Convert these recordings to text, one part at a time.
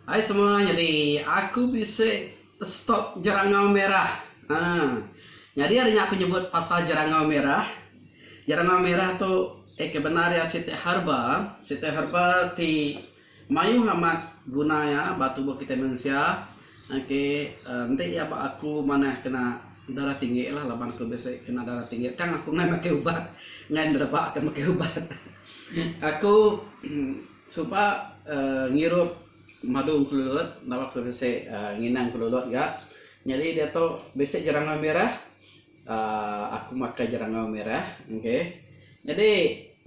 Hai semua nyadi aku bisi stop jerangau merah uhh nyadi ari nya aku nyebut pasal jerangau merah jerangau merah tu eh ke bendar iya siti herba siti herba ti mayuh amat guna iya ba tubuh kitai mensia okay uhh enti iya ba aku manah kena darah tinggi lah laban aku bisi kena darah tinggi tang aku ngena makai ubat ngan rebak ke makai ubat aku. Suba ngirup madu engkelulut enda baka bisi ngina engkelulut ga. Nyadi diatu bisi jerangau mirah uhh aku makai jerangau mirah okay. Nyadi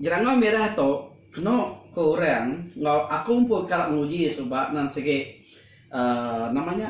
jerangau mirah tu kenu ku orang enggau aku pun ka nguji suba nan sigi uhh nama nya.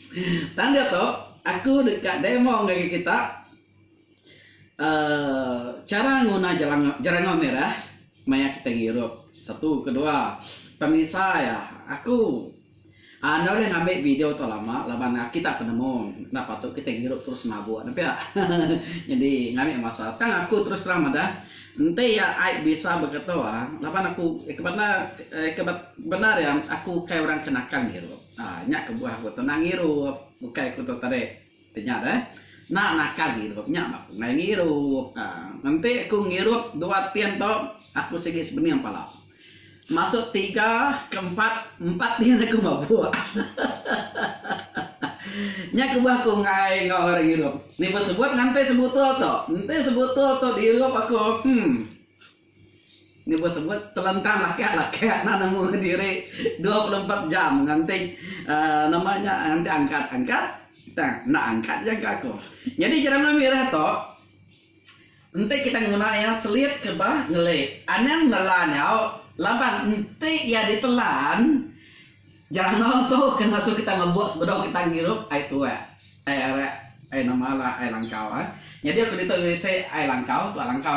Tanda tu aku deka demo ngagai kita chara nguna jerangau merah maya kita ngirup. Satu kedua pamisai aku enda ulih ngambi video tu lama laban aki tak penemu enda patut kita ngirup terus mabuk ne pia nyadi ngambi masa tang aku terus terang madah enti iya ai bisa begitu laban aku eka bendar eka bendar iya aku ukai orang ke nakal ngirup. Haa nya kebuah aku tenang ngirup bukai aku tu tadi ti nya deh enda nakal ngirup nya ba pungai ngirup haa enti aku ngirup dua tin tu aku sigi sebening pala masuk tiga ke empat empat tin aku mabuk hahahaha nya kebuah aku enggai enggau orang ngirup ni besebut nganti sebutul tu enti sebutul tu diirup aku hmm. Nyebut-sebut telentang lakak-lakak enda nemu diri dua puluh empat jam nganti nama nya nganti angkat-angkat tang enda angkat jangka aku. Nyadi jeremai mirah tu enti kita nguna iya selit ke bah ngeli anang nela nyau laban enti iya ditelan jeremau tu ke ngasu kita mebuk sebedau kita ngirup ai tuak ai arak ai nama ai langkau. Nyadi aku ditu bisi ai langkau tuak langkau.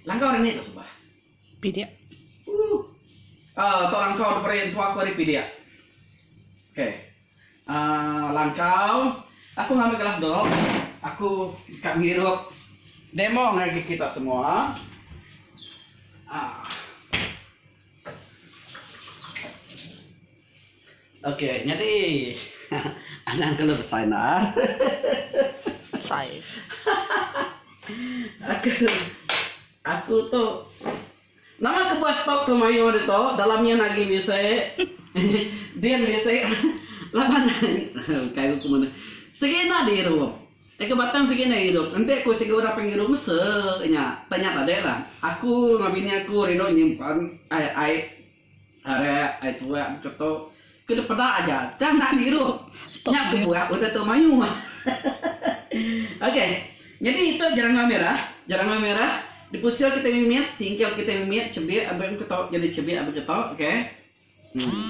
Langkau ari ni tok suba. Pidik. Uh. Uh, tok langkau deperi entua aku ari pidik. Okay. Uh, ah, langkau. Aku ngambil kelas dok. Aku kat ngirup. Demo ngaji kita semua. Ah. Okey nyadi anang kelu besai enda. Aku tu nama ke buah stok tu mayuh ditu dalam iya agi bisi din bisi laban kai ku mene sigi enda diirup agi batang sigi enda diirup enti ku sigi orang panai ngirup mese nya tanya tadiklah aku enggau bini aku rindu nyimpan ai ai Arak ai tuak beketok ke dipeda aja tang enda dirup nya bebuah utai tu mayuh. Okey. Nyadi itu jerangau merah, jerangau merah dipusil kitai mimit, tingkil kitai mimit chebik abih beketok jadi chebik abih ketok okey. Em.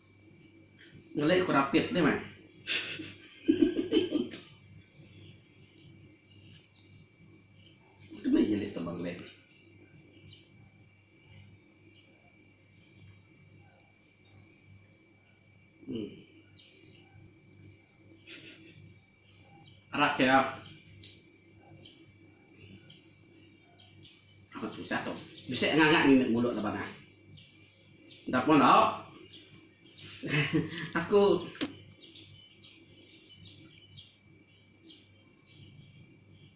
Ngelek aku rapit nih meh. Kena ije nih tebang leh. Uhh. Arap kira apa tu satu. Bisa ngangak ni mulut laban ah. Dah pun dah. aku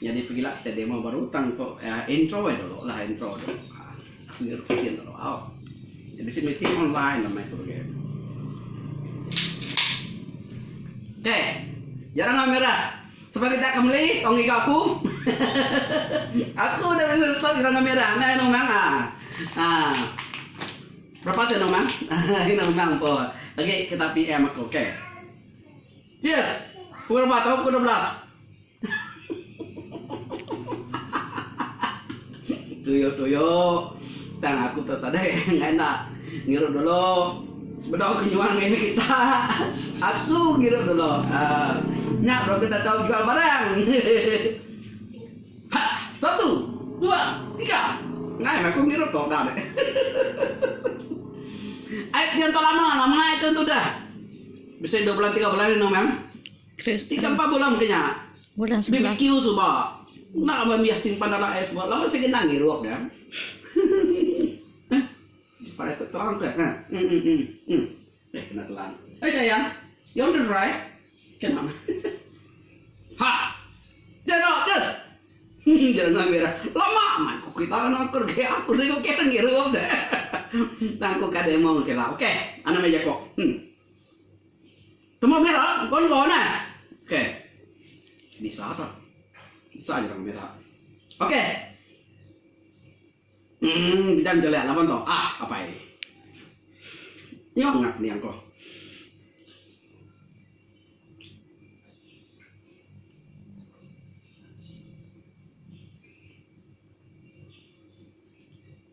Nyadi pegila kitai demo baru tang tu intro aja dulu lah intro tu. Aku ira kitin dulu. Jadi si meeting online lah mai tu lagi. Okay. Jarang lah merah. Sebab kita akan beli, tong giga aku. aku dah bisa stok jarang lah merah. Nah, ini memang. Ah. ah. Berapa tu memang? Ini memang pun. Okay, kita PM aku. Okay. Cheers. Pukul berapa? Tahun pukul 12. Tuyo tuyo tang aku tu tadi ngai enda ngirup dulu sebedau ke nyual ngai mih kita aku ngirup dulu uh, nya bro kita tahu jual barang ha, satu dua tiga ngai aku ngirup tu dah deh Ai tiang tu lama lama itu tu dah bisa dua bulan tiga bulan ni memang Tiga empat bulan ke nya, bbq suba enda mambih simpan dalam ais buah laban sigi endang ngirup dia. Supaya terang ke. Ha. Hmm hmm hmm. Hmm. Eh kena telan. Eh sayang, you want to try? Kena. ha. Jero kes. Jero nang bira. Lama man ku kita nang kur ke aku sing ke nang ngirup de. Tang ku ka demo ke la. Okey, ana meja ko. Hmm. Temu bera konvo nah. Ok. Bisa tu. Bisa aja temu bera. Ok. Hmm, kita menjelak laban tu. Ah, apa ini? Nyok ngap ni angko.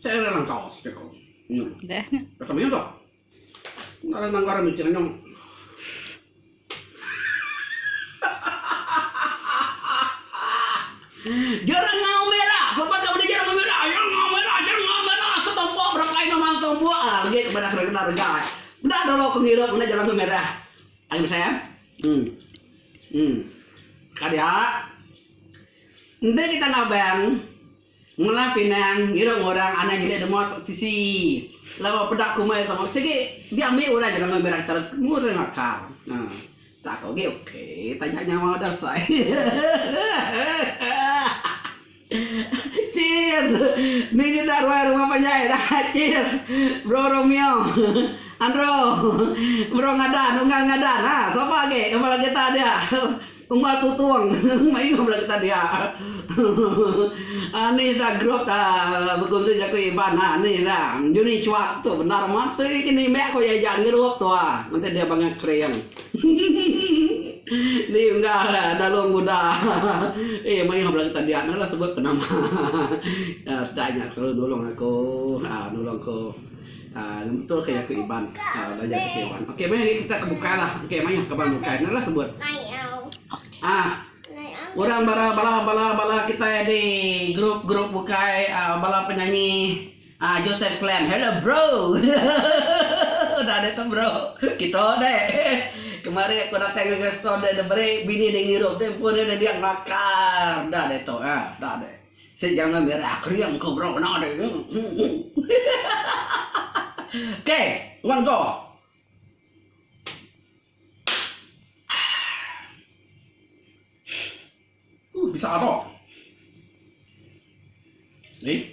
Saya ada langkau sepeko nyong. Dah nya. Kata meh tu. Nara nanggar miting nyong. Jerang ngau merah. Korban tak boleh jerang merah. Jerang ngau merah. Jerang ngau merah. Setompo berapa ini mas tompo. Ah, lagi kepada kerja kita kerja. Dah dulu aku ngirup mana jerang ngau merah. Ayo saya. Hmm. Hmm. Kadia. Nanti kita ngabang. Mula Pinang ngirung orang anang nyelai dema tisi laban peda kuma iya tau sigi diambi orang jerang ngambi raktor ngurung akal tak ko gi ok taja nyawa udah sai hahahahaha cheers ni nyenda ruai rumah panjai dah cheers bro romeo andro bro ngadan unggal ngadan ha sapa agi ngaban lagu ita dia. Uma tutung mayuh bala kita dia anih da group da bekunsi jaku Iban da anih da Juni chuak tu bendar amat sigi ke nimbek ko iya jak group tu a menti dia bangah kering di unggah dalu nguda ih mayuh bala kita dia nala sebut penama sedai nya selalu nulung aku nulung ko. Lembut betul ke jaku Iban. Belajar jaku Iban. Okey meh ni kita ke bukai lah. Okey mayuh ke bang bukai. Enda lah sebut. Ah. Orang bala bala bala bala kita di grup grup bukai uh, bala penyanyi uh, Joseph Clem. Hello bro. Dah ada tu bro. Kita deh. Kemarin aku datang ke restoran dia beri bini dia ngirup dia pun dia dia ngelakar. Dah ada tu. Ah, dah ada. Sik jangan mira kering ke bro kena deh. K wan go. Huh bisa ado. Ni.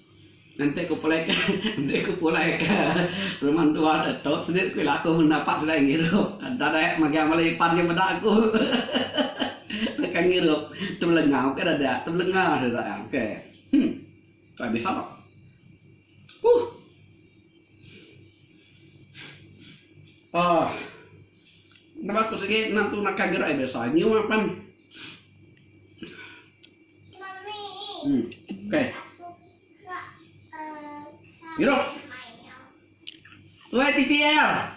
Enti ku pulai ka enti ku pulai ka rumah mentua tu sida ku ila aku menda apat sida ngirup dadai magang bala iban ke meda aku deka ngirup tebelenga bukai dada tebelenga sida ke hmm tuai beha huh oh. Bala aku sigi endang tu naka gerai biasa nyua pan. Hmm. Okay. Irup. Tuai titi ya.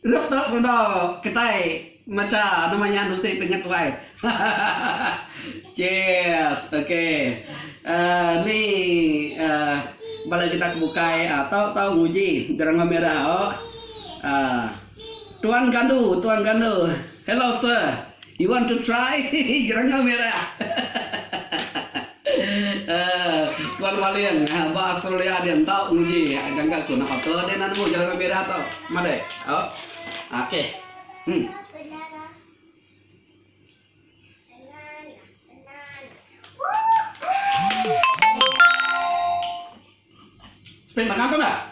Irup tu sudah ketai maca nama nya nusi pengat tuai. Cheers. Okay. Uh, eh, ni uh, bala kita bukai uh, tau-tau nguji gerang merah. Oh. Uh, Tuan Gandu, Tuan Gandu. Hello sir, you want to try jerengel merah? Tuan Maling, ba Australia dia enda nguji jangka ku. Napa ke dia enda nemu jerengel merah tu? Madai. Oh. Okey. Hmm. Spin makan tu dah?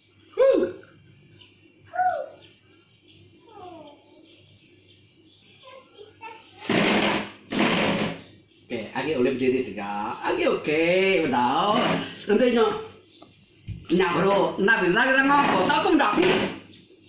Okey, agi ulih bediri tegak. Agi okey, bedau. Enti nyo. Nya bro, enda bisa kita ngau. Tau ku meda.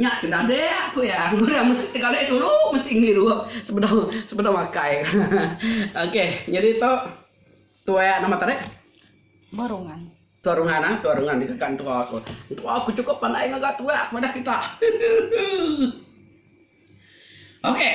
Nya ke dadak ku iya. Orang mesti tegalai dulu, mesti ngirup sebedau sebedau makai. Okey, nyadi tu tuai nama tadi? Tua Rungan. Tua Rungan ah, Tua Rungan deka entua aku. Entua aku cukup pandai ngaga tuai aku madah kita. Okey.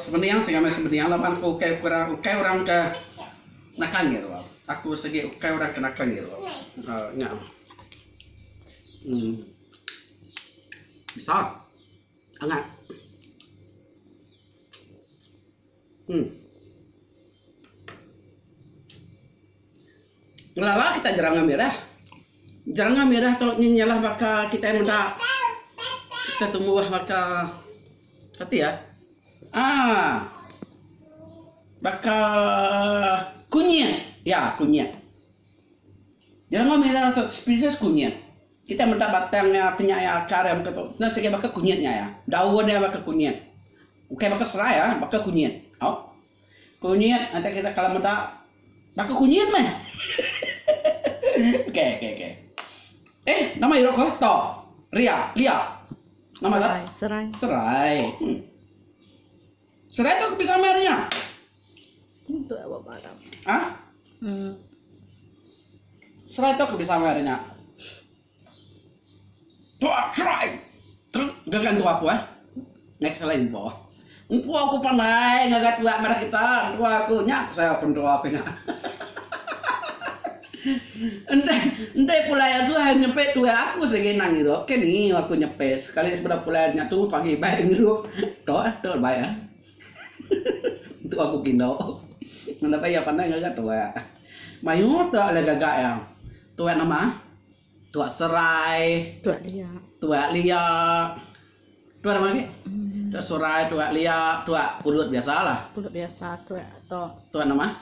Sebening sing amai sebening laban aku ukai ukai orang ke nakal ngirup aku. Aku segi ukai orang ke nakal ngirup aku. Uh, nya. Hmm. Bisa. Angat. Hmm. Ngelala kitai jeranga mirah. Jeranga mirah tu nyin nya lah baka kitai meda kitai tumbuh baka kati iya aaa baka kunyit. Iya kunyit. Jeranga mirah tu spesies kunyit. Kitai meda batang iya ti nya iya akar iya mega tu. Nya segi baka kunyit nya iya. Daun iya baka kunyit. Ukai baka serai ah baka kunyit. Au. Kunyit atai kita kala meda ba ko kunyit meh. Okey okey okey. Eh nama iro ko to. Ria, Lia. Nama dah? Serai. Serai. Hmm. Serai tu bisa main nya. Untuk awak barang. Ah? Hmm. Serai tu bisa main nya. Tuak truck truk gaga entua aku eh. Naik ke lain empu. Empu aku pandai ngaga tuak madah kita entua aku nya ku sayau ke entua aku nya. Enti enti pulai atu hai nyepi tuak aku sigi nang ngiru ke ni aku nyepi sekali sebedau pulai nya tu pagi ibai ngiru tok eh tok ibai eh. Tua ku Kino. Nadai payah pandai ngaga tua. Mayuh tua ulih gaga iya. Tua nama? Tua Serai. Tua Lia. Tua Lia. Tua nama lagi? Tua Serai, Tua Lia, Tua Pulut biasa lah. Pulut biasa, Tua to. Tua nama?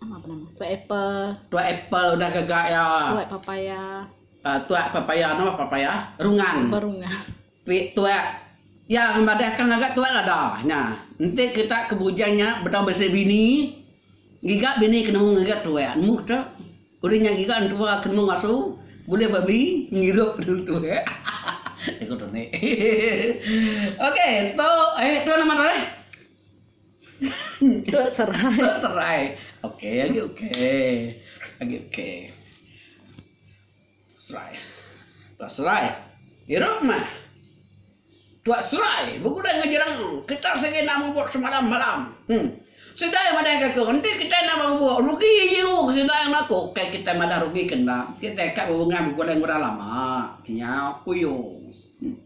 Nama apa nama? Tua Apple. Tua Apple udah gaga iya. Tua Papaya. Uh, tua Papaya nama Papaya? Rungan. Berungan. Pik tuak. Ya ngembadah ka ngaga tuak lada nya. Enti kita ke bujang nya betau bisi bini, ngiga bini ke nemu ngaga tuak. Nemu kita udah nya ngiga entua ke nemu ngasu bulih babi ngirup dulu tuak. Jaku Tony. ok tu eh tu nama tu eh. Tok Serai. Tok Serai. Okey, agi okey. Agi okey. Serai. Tuak Serai, Irut mah. Tuak Serai, Begulai enggau jerang. Kitai sigi enda mubuk semalam-malam. Huh. Sidai madahka aku, Enti kitai enda ba mubuk, rugi jiu ke sida yang aku. Ukai kitai madah rugi ke enda, kitai ka bebungah begulai enggau orang lama. Nyau Uyung. Huh.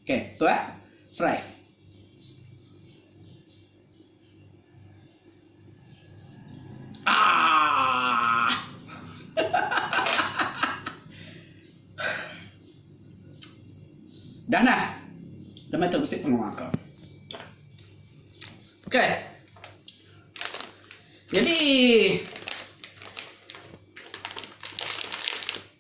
Okey, Tuak Serai. Dah nah. Demi tu bisi pengawa aku. Okey. Jadi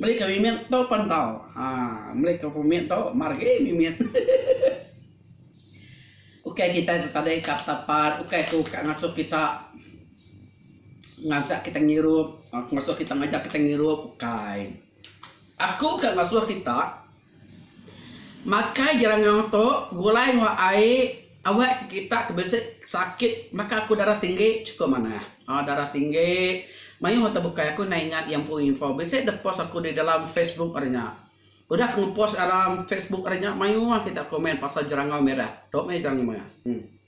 Meli ka mimit tu pen tau. Haa meli ka pemit tu mar agi mimit. Ukai kitai tu tadi ka petapat ukai ku ka ngasuh kita ngansak kita ngirup, ngasuh kita ngajar kita ngirup ukai. Aku ka ngasuh kita. Makai jerangau tu gulai enggau ai awak kita ke bisi sakit maka aku darah tinggi chukup manah aaa darah tinggi mayuh mata bukai aku enda ingat iya empu info bisi deh post aku di dalam facebook ari nya udah aku ngepost dalam facebook ari nya mayuh kita komen pasal jerangau merah tu meh jerangau merah.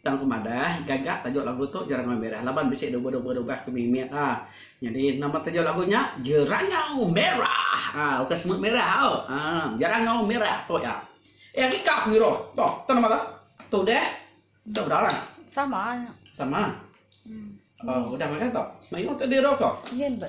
Tang aku madah gaga tajuk lagu tu Jerangau Merah laban bisi duba-duba dugah ke mimit a. Nyadi nama tajuk lagu nya Jerangau Merah. A ukai semut merah au. A Jerangau Merah tu ya. Eh agi ka aku iruh. Tu, tu nama tu? Tu udah. Tu udah orang. Sama. Sama. Hmm. Oh, udah makan tu. Mayuh tu diruh ko. Yen ba.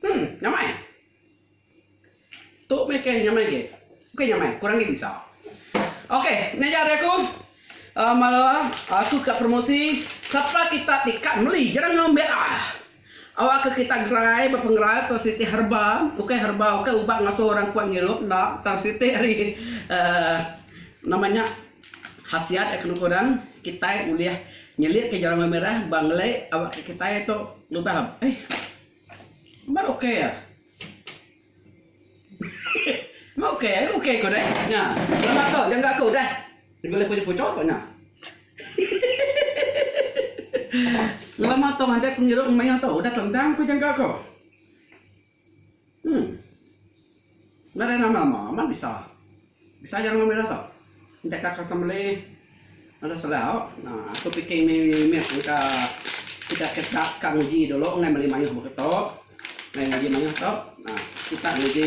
Hmm, nyamai. Tu meh ke nyamai ke. Oke nyamai, kurang ke bisa. Oke, ni aja aku. Uh, ah, malah aku ah, ke promosi siapa kita tikat meli jerang ngambil ah. Awakka kita gerai ba pengerai tang siti herba, ukai herba ukai ubat ngasuh orang kuat ngirup enda tang siti ari uhh nama nya khasiat iya kena kuan kitai ulih nyelitka jalan meh mirah ba ngelei awakka kitai tu lubang uhh baru ukai. Meh okey ai okey ko deh. Nya. Selamat ko jangka aku deh. Dibeleh ko jepu chok ko nya. Selamat tong anjak ku ngirup meh nya tau udah tentang ko jangka ko. Hmm. Ngaran nama ma bisa. Besayang meh meda tu. Enti ka kata meli meda selau uhh aku fikir meh meh engka sida ke ka ka nguji dulu ngai meli mayuh bup tu. Ngai nguji mayuh tu uhh sitak nguji.